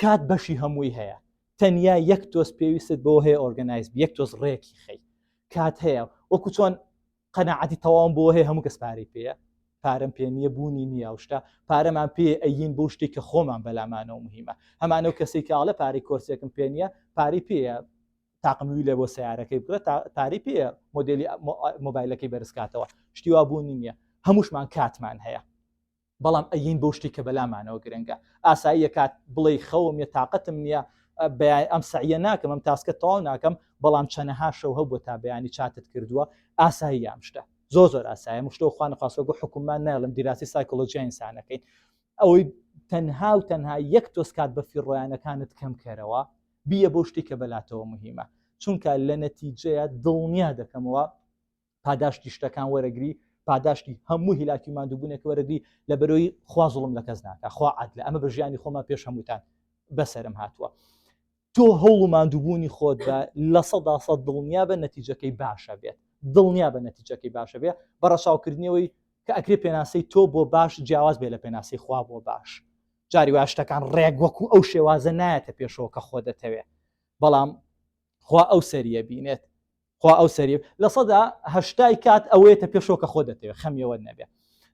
کات بەشی هەمووی هەیە تەنیا یەک تۆز پێویستت بەوە هەیە ئۆرگەنایز یەک تۆز ڕێکی خەی کات هەیە وەکو چۆن قەنەعاتی تەواوم بۆ هەیە هەموو کەس پارەی پێەیە پارەم پێ نییە بوونی نییە و شتا پارەمان پێ ئەین بۆ شتێک کە خۆمان بەلامانەوە مهمە هەمانەو کەسی کاڵە پارەی کۆرسێکم پێ نییە پارەی پێە تاقموی لێ بۆ سیارەکەی بگرە پارەی پێ مۆدلی مۆبایلەکەی بەرزکاتەوە شتیوا بوونی نییە هەمووشمان کاتمان هەیە بەڵام ئەگەین بەو شتەی کە بەلامانەوە گرنگە ئاساییە کات بڵێی خەوم نیە تاقەتم نیە بەیان ئەم سەعیە ناکەم ئەم تاسکە تەواو ناکەم بەڵام چەنەها شەو هەبوو تا بەیانی چاتت کردووە ئاسایی یام شتە زۆ زۆر ئاسایە مشتۆ خوان خواستۆ گو حکومان ناڵم دیراسی سایکۆلۆژیای ئینسانەکەین ئەوەی تەنها و تەنها یەک تۆز کات بە فیڕۆیانەکانت کەم کەرەوە بیە بۆ شتێکە بەلاتەوە مهمە چونکە لە نەتیجەیە دڵنیا دەکەمەوە پاداشتی شتەکان وەرەگری پاداشتی هەموو هیلاکی مادووبوونێک وەرەگری لە بەرۆی خوازڵم لە کەس ناکە خوا عاد لە ئەمە بە ژیانی خۆمە پێش هەمووتان بەسرم هاتووە تۆ هەوڵ و مادووبوونی خۆت بە لە سەدا سە دڵنیا بە نەتیجەکەی باشە بێت دڵنیا بە نەتیجەکەی باشە بێ بە ڕەچاوکردنەوەی کە ئەکرێ پێناسی تۆ بۆ باش جیاواز بێ لە پێناسی خوا بۆ باش جاری وا شتەکان ڕێک وەکو ئەو شێوازە نایەتە پێشەوە کە خۆ دەتەوێت بەڵام خوا ئەو سەریە بینێت خوا ئەو سەری لە سەدا هەشتای کات ئەوەیەتە پێشەوە کە خۆت دەتەوێت خەمی ئەوەت نەبێت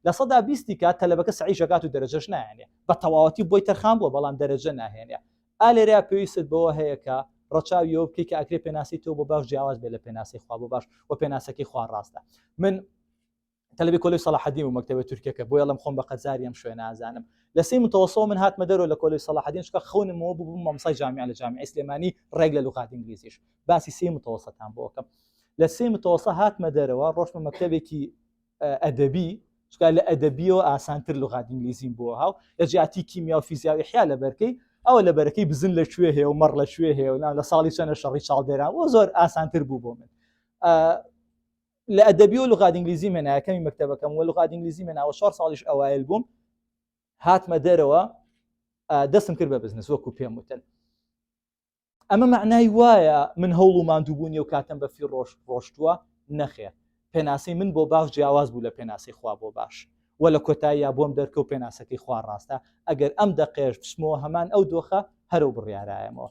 لە سەدا بیستی کات تەلەبەکە سەعیش دەکات و دەرەجەش نایەنێ بە تەواوەتی بۆی تەرخان بووە بەڵام دەرەجە ناهێنێ ئا لێرەیا پێویستت بەوە هەیە کە ڕەچاوی ئەوە بکەی کە ئەکرێ پێناسەی تۆ بۆ باش جیاواز بێت لە پێناسەی خوا بۆ باش و پێناسەکەی خوا ڕاستە من تەلەبەی کۆلێژ سەڵاحەدین بوو مەکتەبە تورکیەکە بۆیە ئەڵێم خۆم بە قەرزاری ئەم شوێنە ئازانم لە سێی متەوەسەوە من هاتمە دەرەوە لە کۆلێژ سەڵاحەدین چونکە خەونم ئەوە بوو ببم مامۆستای جامیعە لە جامیعەی سلێمانی ڕێک لە لوغات ئینگلیزیش باسی سێی متەوەسەتان بۆ بکەم لە سێی متەوەسە هاتمە دەرەوە ڕۆشتمە مەکتەبێکی ئەدەبی چکا لە ئەدەبیەوە ئاسانتر لغات ئینگلیزیم بۆ هاو لە جیاتی کیمیا و فیزیاوی حیا لە بەرکەی ئەوە لە بەرەکەی بزن لە کوێ هەیە و مەڕ لە کوێ هەیە و لە ساڵی چەنە شەڕی چاڵدێران و زۆر ئاسانتر بوو بۆ من لە ئەدەبی و لغات ئینگلیزی مێنا یەکەمی مەکتەبەکەم و لغات ئینگلیزی مێنا و شار ساڵیش ئەوایل بووم هاتمە دەرەوە دەستم کرد بە بزنس وەکو پێم وتن ئەمە معنای وایە من هەوڵ و مادووبوونی و کاتم بە فی ڕۆژ ڕۆشتووە نەخێ پێناسی من بۆ باش جیاواز بوو لە پێناسی خوا بۆ باش و لە کۆتاییا بۆم دەرکە و پێناسەکەی خوا ڕاستە ئەگەر ئەم دەقێش بچمەوە هەمان ئەو دۆخە هەرو بڕیارایەمەوە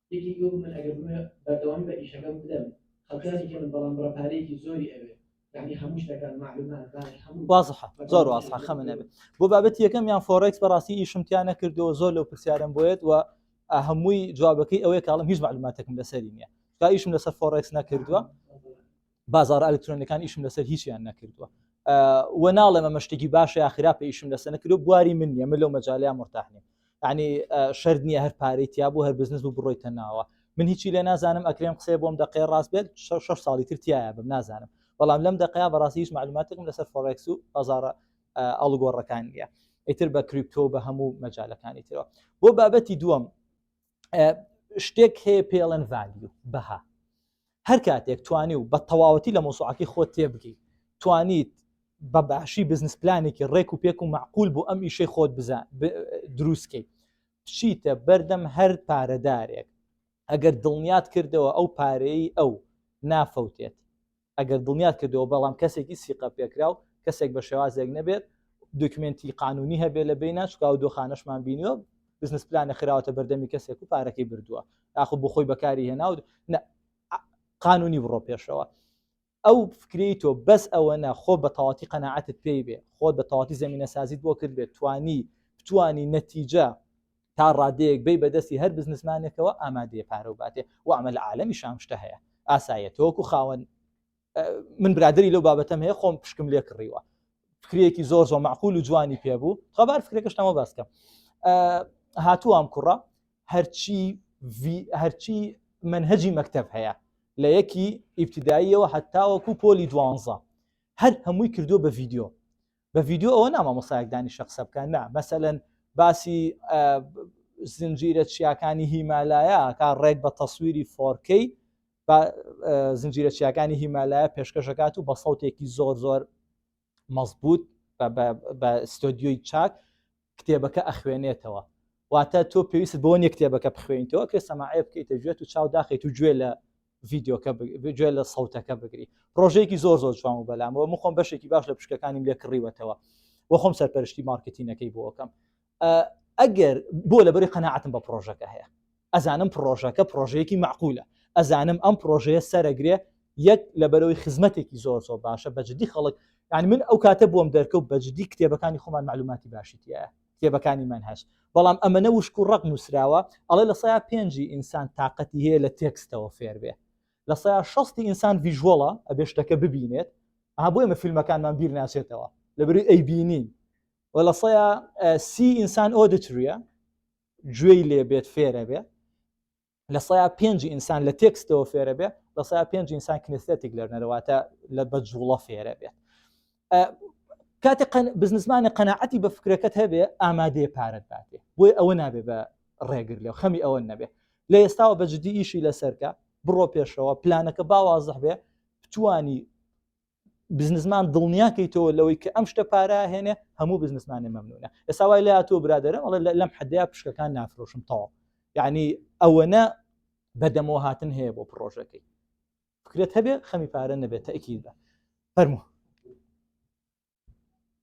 یەکێکی وت من ئەگەر بمرم بەردەوامی بە ئیشەکەم بدەم خەڵکیانی کەمن بەڵام بڕە پارەیەکی زۆری ئەوێ یعنی هەموو شتەکان معلومات بانک هەموو وازحە زۆر وازحە خەمە نەبێت بۆ بابەتی یەکەم یان فۆڕێکس بەڕاستی ئیشم تیا نەکردەوە زۆر لەو پرسیارم بۆیت و هەمووی جوابەکەی ئەوەیە کاڵم هیچ معلوماتەکەم لەسەری نییە تا ئیشم لەسەر فۆڕێکس نەکردووە بازارە ئەلکترۆنەکان ئیشم لەسەر هیچیان نەکردووە و ناڵێ مەمە شتێکی باشە یا خراپە ئیشم لەسەر نەکردو بواری من نیە من لەو مەجاالیان مرتاحنیم ینی شرد نییە هەر پارەی تیا بوو هەر بزنس بوو بڕۆی تەناوە من هیچی لێ نازانم ئەکرێم قسەیە بۆم دەقێ ڕاست بێت شش ساڵی تر تایە بم نازانم بەڵام لەم دقەیە بەڕاستی هیچ معلوماتێکم لەسەر فۆرکس و بازارە ئەڵگۆڕەکان نیە ئیتر بە کریپتۆ بە هەموو مەجالەکانی ترەوە بۆ بابەتی دووەم شتێک هەیە پێڵەن ڤالیو بەها هەر کاتێک توانی و بە تەواوەتی لە مۆسوعاتی خۆ تێبگەی توانیت بە باشی بزنس پلانێکی ڕێک و پێک و معقول بۆ ئەم ئیشەی خۆت بزە دروستکەیت چیتە بەردەم هەر پارەدارێک ئەگەر دڵنیات کردەوە ئەو پارەی ئەو نافەوتێت ئەگەر دڵنیات کردەوە بەڵام کەسێکی سیقە پێکراو کەسێک بە شێوازێک نەبێت دوکمێنتی قانونی هەبێت لە بینە چکا و دۆخانەشمان بینیوە بزنس پلانە خراوەتە بەردەمی کەسێک و پارەکەی بردووە یاخو بۆ خۆی بەکاری هێنا و قانونی بڕۆ پێشەوە ئەو فکری تۆ بەس ئەوە نە خۆ بە تەواتی قەنەعاتت پێی بێ خۆت بە تەواتی زمینە سازیت بۆ کرد بێت توانی توانی نەتیجە تا ڕادەیەک بی بە دەستی هەر بزنسمانێکەوە ئامادەیە پارە و باتێ وامە لە عالەمی شام شتە هەیە ئاسایە تۆکو خاوەن من برادری لەو بابەتەم هەیە خۆم پشکم لێ کڕیوە فکرێکی زۆر زۆر معقول و جوانی پێ بوو خەبار فکرەکەشتەمە باسکە هاتووام کوڕە هەرچی هەرچی منهجی مەکتب هەیە لە یەکی ئیبتداییەوە هەتاوەکو پۆلی دوانزە هەر هەمووی کردو بە ڤیددیو بە ڤیدیۆ ئەوە نا مامۆسایەک دانیشە قسە بکەن نا مەسەلەن باسی زنجیرە چیاکانی هیمالایە کا ڕێک بە تەسویری فۆرکەی زنجیرە چیاکانی هیمالایە پێشکەشەکات و بە سەوتێکی زۆر زۆر مەزبوط بە ستۆدیۆی چاک کتێبەکە ئەخوێنێتەوە واتە تۆ پێویست بۆ نیە کتێبەکە بخوێنیتەوە کە سەماعەیە بکەیتە گوێت و چاو داخیت و گوێ لە ڤیددیوکە گوێ لە سەوتەکە بگری ڕۆژێکی زۆر زۆر جوان و بەلامەوە مخۆم بەشێکی باش لە پشکەکانیم لێ کڕیوەتەوە وەخۆم سەرپەرشتی مارکتینەکەی بۆکەم ئەگەر بۆ لەبەری قەنەعاتم بە پرۆژەکە هەیە ئەزانم پڕۆژەکە پڕۆژەیەکی مەعقولە، ئەزانم ئەم پڕۆژەیە سەرەگرێ یەک لەبەرەوەی خزمەتێکی زۆر زۆر باشە بە جدی خەڵک یعنی من ئەو کاتە بۆم دەرکەوت بە جدی کتێبەکانی خۆمان معلوماتی باشی تایە کتێبەکانی من هەش بەڵام ئەمەە وشک و ڕق نووسراوە ئەڵێ لە سەیا پێنجی ئینسان تااقەتی هەیە لە تێکستەوە فێربێ لە سەیا شستی ئینسان ڤژوەڵە ئەبێ شتەکە ببینێت ئا بۆ ئمە فیلمەکانمان بیر ناسێتەوە لەبری ئەی بینین و لە سەیا سی ئینسان ئۆدتریە گوێی لێ بێت فێرە بێ لە سەیا پێنج ئینسان لە تێکستەوە فێرە بێ لە سەیا پێنج ئینسان کنستێتیک لەرنەرەواتە لە بە جوڵە فێرە بێت کاتی بزنسمانە قەنەعەتی بە فکرەکەت هەبێ ئامادەیە پارەت باتێ بۆی ئەوە نابێ بە ڕێگر لێ خەمی ئەوە نەبێ لە ئێستاوە بە جددی ئیشی لەسەرکە بڕۆ پێشەوە پلانەکە باوازح بێ بتانی بزنسمان دڵنیا کەیتەوە لەوەی کە ئەم شتە پارا هێنێ هەموو بزنسمانێ مەمنونە ئێستا وای لە تۆ برادرم ئەڵێ لەم حدەیە پشکەکان نافرۆشم تەواو یعنی ئەوەنە بەدەمەوە هاتن هەیە بۆ پرۆژەکەی فکرێت هەبێ خەمی پارە نەبێت تەکی بە فەرموو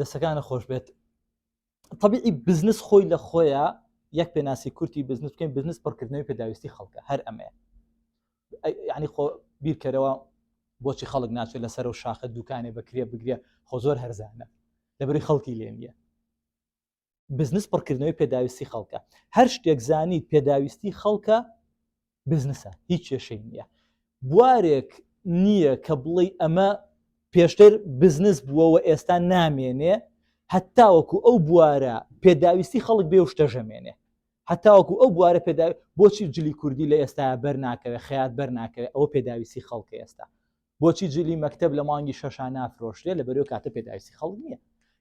دەستەکانە خۆش بێت طبیعی بزنس خۆی لە خۆیە یەک پێناسی کورتی بزنس بکەین بزنس پڕکردنەوەی پێداویستی خەڵکە هەر ئەمەیە ینی خۆ بیرکەرەوە بۆچی خەڵک ناچێت لەسەر و شاخە دوکانێ بەکرێ بگرێ خۆ زۆر هەرزانە لەبری خەڵکی لێ نیە بزنس پڕکردنەوەی پێداویستی خەڵکە هەر شتێک زانیت پێداویستی خەڵکە بزنسە هیچ کێشەی نییە بوارێک نییە کە بڵێ ئەمە پێشتر بزنس بووەوە ئێستا نامێنێ هەتاوەکو ئەو بوارە پێداویستی خەڵک بێ شتەژەمێنێ هەتاوەکو ئەو بوارە پێدا بۆچی جلی کوردی لە ئێستا بەرناکەوێت خیات بەرناکەوێت ئەوە پێداویستی خەڵکە ئێستا بۆچی جلی مەکتب لە مانگی شەشا نافرۆشرێ لە بەرەو کاتە پێداویستی خەڵک نییە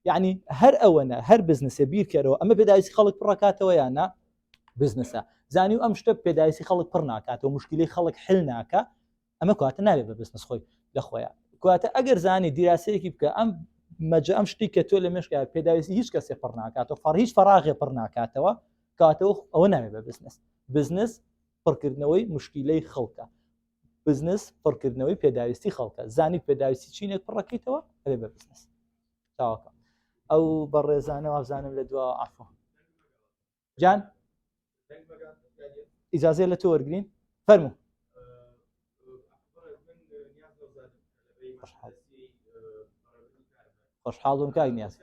یعنی هەر ئەوەنە هەر بزنسە بیرکەرەوە ئەمە پێداویستی خەڵک پڕکاتەوە یانە بزنسە زانی و ئەم شتە پێداویستی خەڵک پڕ ناکاتەوە مشکلی خەڵک حل ناکە ئەمە کواتە نابێت بە بزنس خۆی لە خۆیان کواتە ئەگەر زانی دیراسەیەکی بکە ئەم مەجە ئەم شتی کە تۆ لە مشکیا پێداویستی هیچ کەسێ پڕ ناکاتەوە فڕ هیچ فراغێ پڕ ناکاتەوە کاتەوە ئەوە ناوێت بە بزنس بزنس پڕکردنەوەی مشکیلەی خەڵکە بزنس پڕکردنەوەی پێداویستی خەڵکە زانیت پێداویستی چینێک پڕەکەیتەوە ئەێ بە بزنس تاواکە ئەو بە ڕێزانە وابزانم لە دوا ئافۆ جان ئیجاازێ لە تۆ وەرگین فەرمو خۆشحاڵ بم کاک نیاز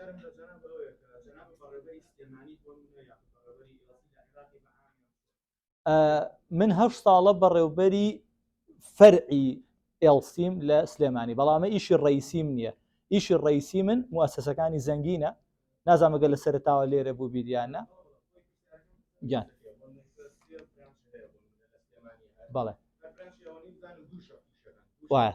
من هەشت ساڵە بەڕێوبەری فەرعی ئێڵسیم لە سلێمانی بەڵامە ئیشی ڕیسیم نییە ئیشی ڕیسی من موسسەکانی زەنگینە نازانمەگە لە سەرتاوە لێرە بوو بیریانە گیان بەڵێ وایە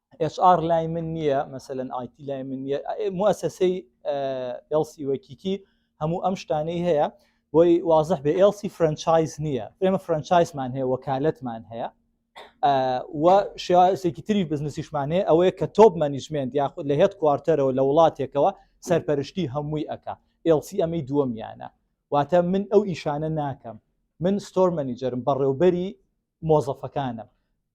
ئێچ ئاڕ لای من نییە مەسەلەن ئایتی لای من نییە موەسەسەی ئێڵسی وەکیکی هەموو ئەم شتانەی هەیە بۆی وازح بێ ئێڵسی فرەنچایز نییە ئێمە فرەنچایزمان هەیە وەکالەتمان هەیە و شێوازێکی تری بزنسیشمان هەیە ئەوەیە کە تۆپ مەنیجمنت یاخود لە هێت کوارتەرەوە لە وڵاتێکەوە سەرپەرشتی هەمووی ئەک ئێڵسی ئەمەی دووەمیانە واتە من ئەو ئیشانە ناکەم من ستۆر مەنیجەرم بەڕێوبەری مۆزەفەکانم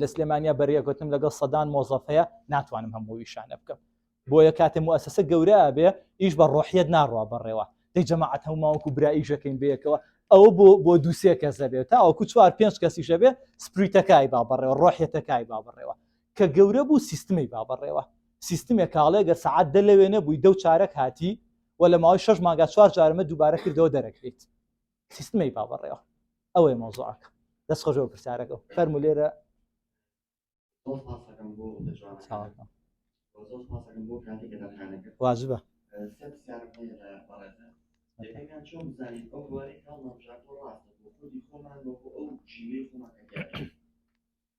لە سلێمانیا بەرێگوتم لەگەڵ سەدان مۆزەف هەیە ناتوانم هەموو ویشانە بکەم بۆیە کاتێ موسسە گەورە بێ ئیش بە ڕۆحیت ناڕوا بەڕێوە دەی جەماعات هەموماوەکو براییشەکەین بەیەکەوە ئەو بۆ بۆ دووسێ کەسە بێت تاوەکو چوار پێنج کەسیشە بێ سپریتەکای با بەڕێوە ڕۆحیەتەکای با بڕێوە کە گەورە بوو سیستمی با بەڕێوە سیستمێک کاڵێ گەر سعات دە لەوێ نەبووی دەو چارەک هاتی و لە ماوەی شش ماگا چوار جارمە دووبارە کردەوە دەرەکەیت سیستمی با بەڕێوە ئەوەی مۆزۆعەکە دەست خۆشەوە پرسیارەکە فەرمو لێرە واجبە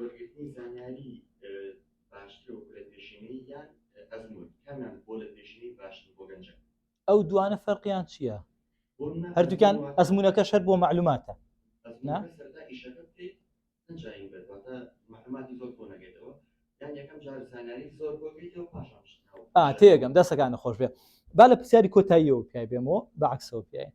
وەرگرتنی زانیاری باشتر وەکو لە پێشینەی یان ئەزموون کامیان بۆ لە پێشینەی باشتر بۆ گەنجەکە ئەو دوانە فەرقیان چییە؟ هەردووکان ئەزمونونەکە شەر بۆ معلوماتە تێگەم دەسەکانە خۆش بێ با لە پرسیاری کۆتاییەوە پیای بێمەوە بەعکسەوە پیاین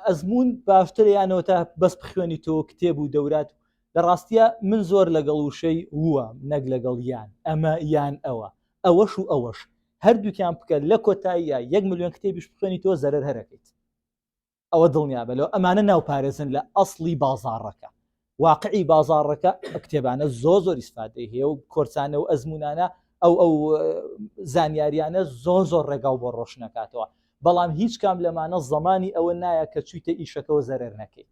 ئەزمون باشتر یانەوە تا بەس بخوێنی تۆ کتێب و دەورات لە ڕاستیا من زۆر لەگەڵ وشەی ووام نەک لەگەڵ یان، ئەمە یان ئەوە، ئەوەش و ئەوەش هەردووکیان بکە لە کۆتاییا یەک ملیۆن کتێبیش بخوێنیتەوە زەرەر هەر ئەکەیت ئەوە دڵنیابە لەوە ئەمانە ناوپارێزن لە ئەسڵی بازاڕەکە واقعی بازاڕەکە کتێبانە زۆ زۆر ئیسفادەی هەیە و کۆرسانە و ئەزمونانە ئەو ئەو زانیاریانە زۆ زۆر ڕێگا و بۆ ڕۆشنەکاتەوە بەڵام هیچ کام لەمانە زمانی ئەوە نایە کە چویتە ئیشەکەەوە زەرەر نەکەیت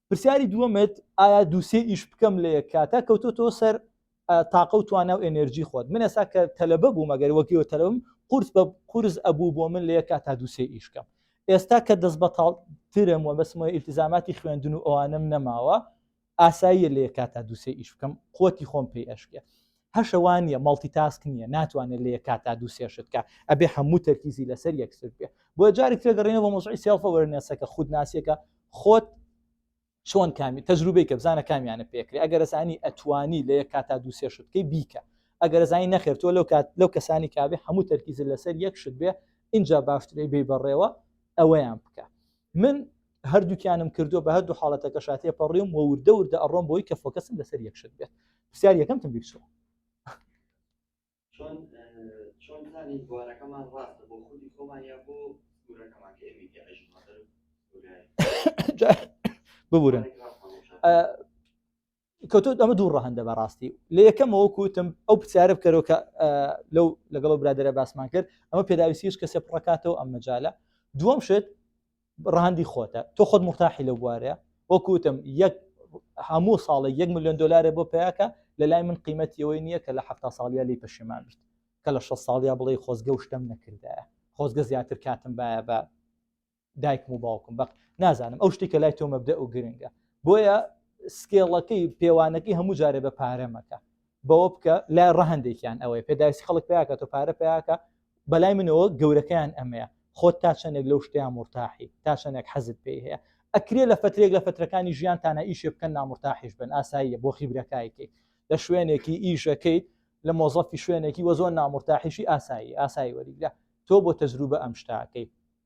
پرسیاری دووەمت ئایا دووسێ ئیش بکەم لە یەک کاتە کەوتۆ تۆ سەر تاقە و توانە و ئەنرژی خۆت من ئێسا کە تەلەبە بوو مەگەر وەگەوە تەلەم قورس بە قورس ئەبوو بۆ من لە یەک کاتا دووسێ ئیشکەم ئێستا کە دەست بەتاڵ ترم وە بەسمە ئیلتزاماتی خوێندن و ئەوانم نەماوە ئاساییە لە یەک کاتا دووسێ ئیش بکەم قوتی خۆم پێی ئەشکێ هەشە وا نیە مەڵتی تاسک نیە ناتوانێت لە یەکات تا دوو سێ شتکە ئەبێ هەموو تەرکیزی لەسەر یەکسر بێ بۆ جارێک تێگەڕێنە بە مۆزعی سێڵفە وەرنێسەکە خودناسیەکە خۆت چۆن کامی تەجروبەی کە بزانە کامیانە پێکرێ ئەگەرزانی ئەتوانی لە یەک کاتا دوو سێ شتکەی بیکە ئەگەرزانی نەخێر تۆ لەو کات لەو کەسانی کابێ هەموو تەرکیزە لەسەر یەک شت بێ اینجا باشترەی بی بەڕێوە ئەوەیان بکە من هەردووکیانم کردووە بە هەردوو حاڵەتەکە شاتێ پەڕیم و وردە وردە ئەڕۆم بۆی کە فۆکەسم لەسەر یەکشت بێت پرسیار یەکەمتم بیرچوە چۆن چۆن زانی بوارەکەمان ڕاستە بۆ خودی خۆمان یا بۆ سکوورەکەمان کە ئێمە ببورن کەوتۆ ئەمە دوو ڕەهندە بەڕاستی لە یەکەم وەکوتم ئەو پرسیارە بکەرەوە کە لەو لەگەڵ برادرە باسمان کرد ئەمە پێداویستیش کە سێ پڕکاتەوە ئەم مەجالە دووەم شت ڕەهندی خۆتە تۆ خۆت مرتاحی لە بوارەیە وەکوتم یەک هەموو ساڵی یەک میلیۆن دلارێ بۆ پیاکە لە لای من قیمەتیەوەی نییە کە لە ه ساڵیا لی پەشێمان بیت کە لە 6 ساڵیا بڵێ خۆزگە و شتم نەکردایە خۆزگە زیاتر کاتم باە بە دایکم و باوکم بەق نازانم ئەو شتێکە لای تۆ مەبدە و گرنگە بۆیە سکێڵەکەی پێوانەکەی هەموو جارێ بە پارەمەکە بەوە بکە لای ڕەهندێکیان ئەوەی پێداویست خەڵک پیاکە تۆ پارە پیاکە بەلای منەوە گەورەکەیان ئەمەیە خۆت تا چەندێک لەو شتیان مرتاحی تا چەندێک حەزت پێی هەیە ئەکرێ لە فترێک لە فترەکانی ژیان تانە ئیشێ بکەن نامرتاحش بن ئاساییە بۆ خیبرەکایکەیت لە شوێنێکی ئیشەکەیت لە مۆزەفی شوێنێکی وە زۆر نامرتاحیشی ئاسایی ئاسایی وەریگرە تۆ بۆ تەجروبە ئەم شتاکەی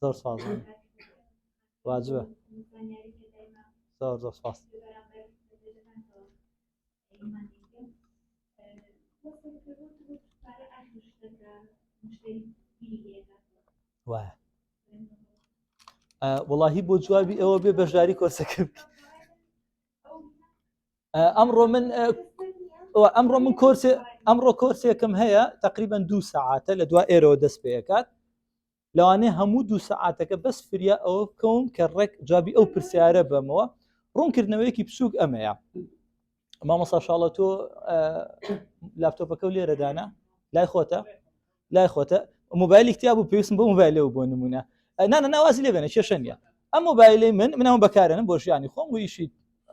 زۆر ساز واجبە زۆر زۆر ساز وایە وڵی بۆ جوابی ئەوە بێ بەشداری کۆرسەکە بکە ئەمڕۆ من ئەمڕۆ من کۆرسێ ئەمڕۆ کۆرسێکم هەیە تقریبان دوو سعاتە لە دو ئێرەوە دەست پێکات لەوانێ هەموو دوو سعاتەکە بەس فریا ئەوە بکەون کە ڕێک جوابی ئەو پرسیارە بەمەوە ڕوونکردنەوەیەکی بچووک ئەمەیە مامەسا شاڵە تۆ لاپتۆپەکە و لێرەدانە لای خۆتە لای خۆتە مۆبایلی تیا بوو پێویستم بۆ مۆبایلەوە بۆ نمونە نانە ناوازی لێ بێنە کێشە نیە ئەم مۆبایلی من منەوە بەکارێنم بۆ ژیانی خۆم و ئیشی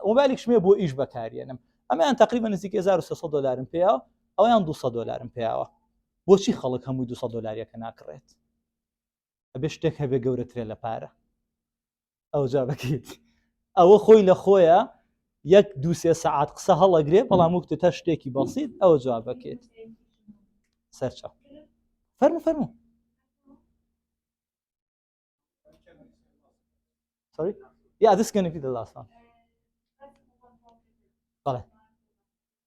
مۆبایلێک شمێ بۆ ئیش بەکارێنم ئەمیان تقریبا نزیک 1600 دلارم پێیا ئەویان 200 دلارم پێیاوە بۆچی خەڵک هەمووی 200 دلاریەکە ناکڕێت ئەبێ شتێک هەبێ گەورەترێ لە پارە ئەوجا بکەیت ئەوە خۆی لە خۆیە یەک دو سێ سەعات قسە هەڵەگرێ بەڵام وکتە تا شتێکی بەسییت ئەوە جواب بکەیت سەرچە فەرمو فەرمو Sorry? Yeah, this is going to be the last one. Vale.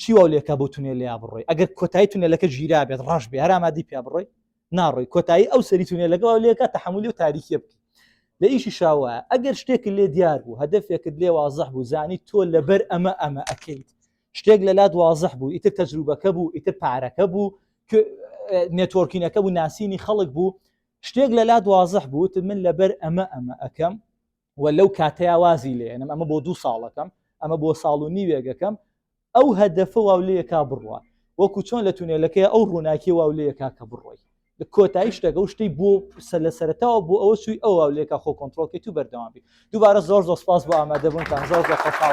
چی واو لێکا بۆ تونێل لێیا بڕۆی ئەگەر کۆتایی تونێلەکە ژیرا بێت ڕەش بێ هەرامادی پیا بڕۆی ناڕۆی کۆتایی ئەو سەری تونێلەکە واو لێکە تحملی و تاریکیە بکە لە ئیشی شاوە ئەگەر شتێک لێ دیار بوو هەدفێکت لێ وازح بوو زانی تۆ لەبەر ئەمە ئەمە ئەەکەیت شتێک لە لات وازح بوو ئیتر تەجروبەکە بوو ئیتر پارەکە بوو نێتۆرکینەکە بوو ناسینی خەڵک بوو شتێک لە لات وازح بووت من لەبەر ئەمە ئەمە ئەەکەم و لەو کاتەیا وازی لێ ئەنم ئەمە بۆ دوو ساڵەکەم ئەمە بۆ ساڵ و نیوێگەکەم ئەو هەدەفە واو لەکە بڕوە وەکو چۆن لە تونێلەکەی ئەو ڕووناکی واو لەکە کە بڕۆی کۆتایی شتەکە و شتی بۆ سە لە سەرتاوە بۆ ئەوە سوی ئەو واو لەکە خۆ کۆنتترۆلکەی تو بەردەوام بی دووبارە زۆر زۆر سپاس بۆ ئامادەبوونتان زۆر زۆر خۆشحاڵ